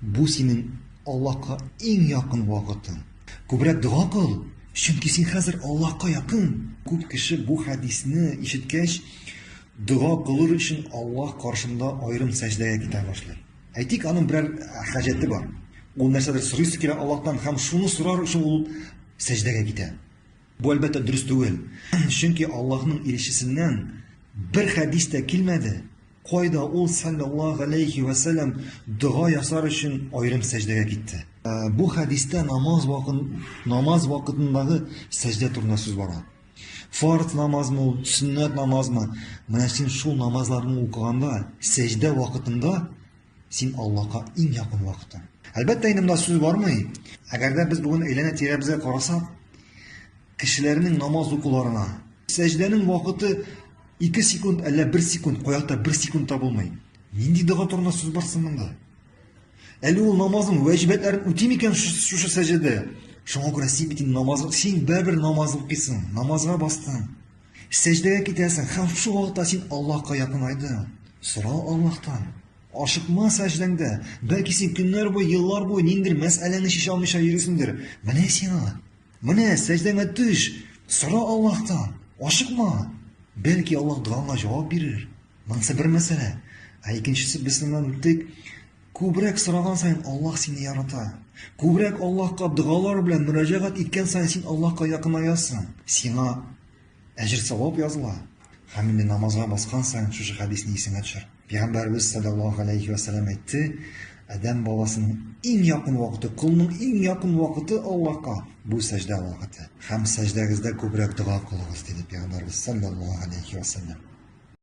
Бу синең Аллаһка иң якын вакытың. Күбрәк дога кыл, чөнки син хәзер Аллаһка якын. Күп кеше бу хәдисне ишеткәч, дога кылыр өчен Аллаһ каршында аерым сәҗдәгә китә башлый. Әйтик, аның берәр хаҗәте бар. Ул нәрсәдер сорыйсы килә Аллаһтан һәм шуны сорар өчен ул сәҗдәгә китә. Бу, әлбәттә, дөрес түгел. Чөнки Аллаһның илчесеннән бер хәдис тә килмәде. Кайда ул саллаллаһу алейхи ва саллям дога ясар өчен аерым сәҗдәгә китте? Ә, бу хәдистә намаз вакыт намаз вакытындагы сәҗдә турында сүз бара. Фарз намазмы ул, сөннәт намазмы? Менә син шул намазларны укыганда, сәҗдә вакытында Син Аллаһка иң якын вакытың. Әлбәттә, инде монда сүз бармый. Әгәр дә без бүген әйләнә тирәбезгә карасак, кешеләрнең намаз укуларына, сәҗдәнең вакыты 2 секунд, әллә 1 секунд, каякта 1 секунд та булмый. Нинди дога турында сүз бар соң монда? Әле ул намазның вәҗибәтләрен үти микән шушы сәҗдәдә? Шуңа күрә син бит инде намаз, син бер намаз укыйсың, намазга бастың. Сәҗдәгә китәсең һәм шул вакытта син Аллаһка якынайдың. Сора Аллаһтан. Ашыкма сәҗдәңдә. Бәлки син көннәр буе, еллар буе ниндидер мәсьәләне чишә алмыйча йөрисеңдер. Менә сиңа. Менә сәҗдәңә төш. Сора Аллаһтан. Ашыкма. Бәлки Аллаһ догаңа җавап бирер. Монысы бер мәсьәлә. Ә икенчесе без моннан үттек. Күбрәк сораган саен Аллаһ сине ярата. Күбрәк Аллаһка догалар белән мөрәҗәгать иткән саен син Аллаһка якынаясың. Сиңа әҗер савап языла. Һәм инде намазга баскан саен шушы хәдисне исеңә төшер. Пәйгамбәрбез саллаллаһу алейхи ва сәлләм әйтте, Адәм баласының иң якын вакыты, кулның иң якын вакыты Аллаһка бу сәҗдә вакыты. Һәм сәҗдәгездә күбрәк дога кылыгыз, диде Пәйгамбәрбез саллаллаһу алейхи ва сәлләм.